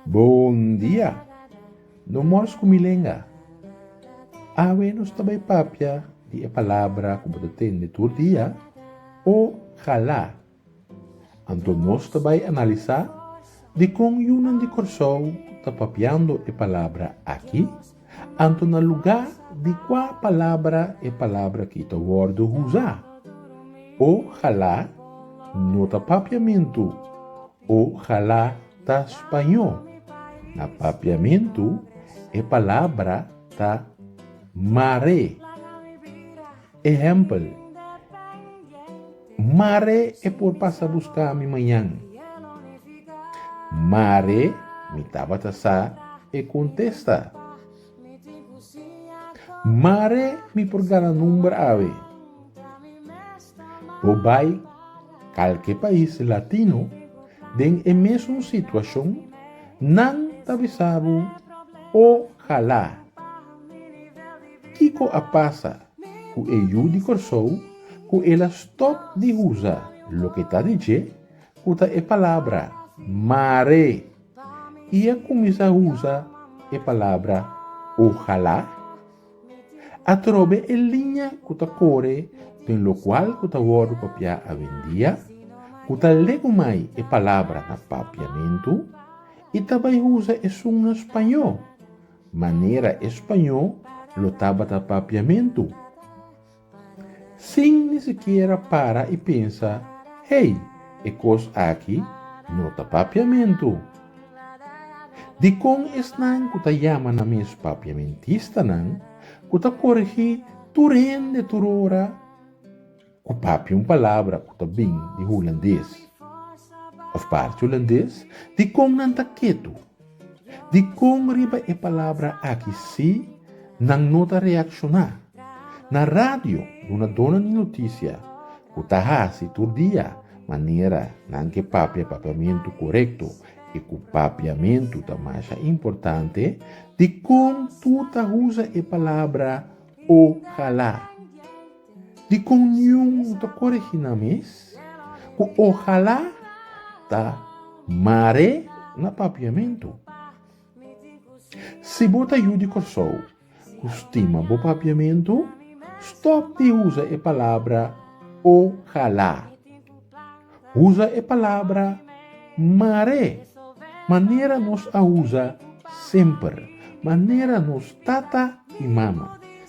Bon dia! No mors ku mi lenga. Awe nos ta bai papia di e palabra ku bo ta tende tur dia o hala Anto nos ta bai analisá dikon yunan di Kòrsou ta papiando e palabra aki, anto na lugá di kua palabra e palabra aki ta wòrdu usá. Ojalá no ta papiamentu, ojalá ta spañó. Na papiamentu e palabra ta maré. Ehempel, Mare e por pasa buska mi mañan? Mare mi tabata sa, e contesta. Mare mi por gana number awe? Bo bai calke pais latino den e mesun situacion, nan ta bisabu o hala. Kiko a pasa ku e yu di Kòrsou ku el a stòp di usa loke ta di dje, ku ta e palabra mare, i a kuminsá usa e palabra ohalá? Atrobe e liña ku ta kore den lokual ku ta wòrdu papiá awendia, ku ta legu mai e palabra na papiamentu, i ta bai usa esun na spañó, Manera e spañó lo tabata papiamentu. Sin ni sikiera para i pensa, Hey, e kos aki no ta papiamentu. Dikon esnan ku ta yama nan mes papiamentistanan ku ta korigí tur hende tur ora? Ku papia un palabra ku ta bin di hulandes òf parti hulandes, dikon nan ta ketu? Dikon riba e palabra aki sí nan no ta reakshoná? Na radio duna dona di notisia ku ta hasi tur dia manera nan ke papia papiamentu korekto i ku papiamentu ta masha importante, dikon tur ta usa e palabra ojalá? Dikon niun bo ta koregi nan mes? Ku ohalá ta mare na papiamentu. Si bo ta yu di Kòrsou ku stima bo papiamentu, stòp di usa e palabra ohalá. Usa e palabra mare manera nos a usa semper, manera nos tata i mama.